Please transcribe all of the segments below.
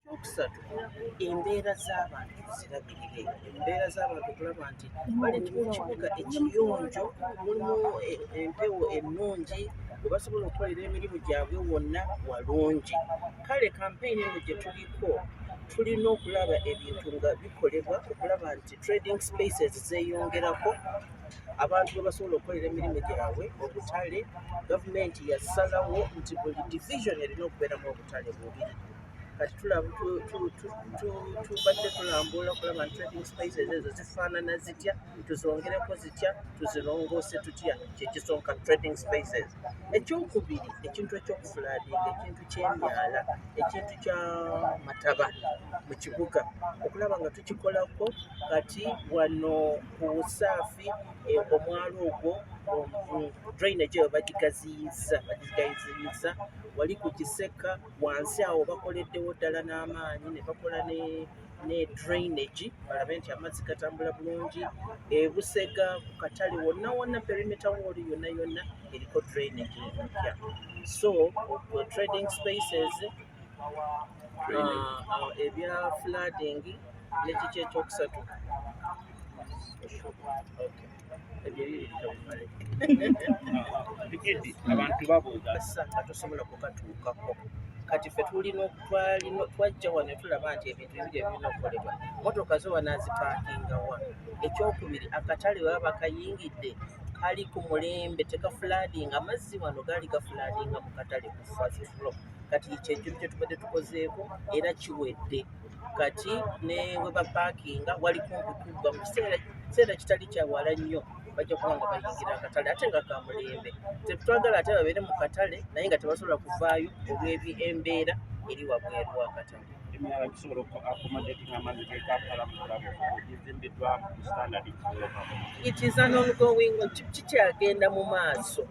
Ekyokusatu, embeera z'abantu zirabirire. Embeera z'abantu okulaba nti bali mu kibuga ekiyonjo, mulimu e- empewo ennungi we basobola okukolera emirimu gyabwe wonna walungi. Kale kampeyini eno gye tuliko tulina okulaba ebintu nga bikolebwa okulaba nti trading spaces zeeyongerako abantu we basobola okukolera emirimu gyabwe obutale gavumenti yasalawo nti buli division erina okubeeramu obutale bubiri kati tubadde tulambula okulaba nti trading spices ezo zifaanana zitya tuzongereko zitya tuzirongoose tutya kyekisonka trading spices ekyokubiri ekintu ekyokufulaadinga ekintu kyemyala ekintu kya mataba mu kibuga okulaba nga tukikolako kati wano ku saafi e, omwalo ogwo drainage eyo bagigaziyiza bagigaziyiza wali ku kiseka wansi awo bakoleddewo ddala n'amaanyi ne bakola ne ne drainage balabe nti amazzi gatambula bulungi ebusega ku katale wonna wonna perimeta wooli yonna yonna eriko drainage empya so trading spaces uh, uh, ebya flooding nekiki ekyokusatu okay. abantu babuuza nga tosobola kukatuukako kati fe tulina twajja wano tulaba nti ebintu ebiri ebirina okukolebwa motoka zo wanazipakinga wa ekyokubiri akatale baba bakayingidde kali ku mulembe tekafuladinga amazzi wano gaali gafuladinga mu katale kufa kati kyekyo kyetubadde tukozeeko era kiwedde kati ne we bapaakinga wali kumpi kuggwa mu kiseera kiseera kitali kya wala nnyo bajja kuba nga bayingira akatale ate nga kamulembe tetwagala ate babeere mu katale naye nga tebasobola kuvaayo olw'ebi embeera eri wabweru wakatale emirala gisobola accommodate ng'amazzi gekampala mu kulabo gizimbiddwa mu standard it is an ongoing kikyagenda mu maaso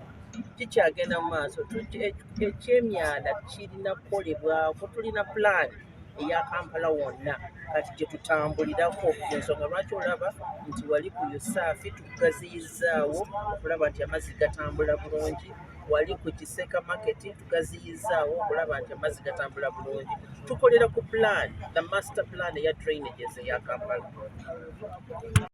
kikyagenda mu maaso ekyemyala kirina kukolebwako tulina pulaani eya kampala wonna kati gyetutambulirako ensonga lwaki olaba nti wali ku usaafi tugaziyizaawo okulaba nti amazzi gatambula bulungi wali ku kiseka maketi tugaziyizaawo okulaba nti amazzi gatambula bulungi tukolera ku plan the master plan eya drainages eya kampala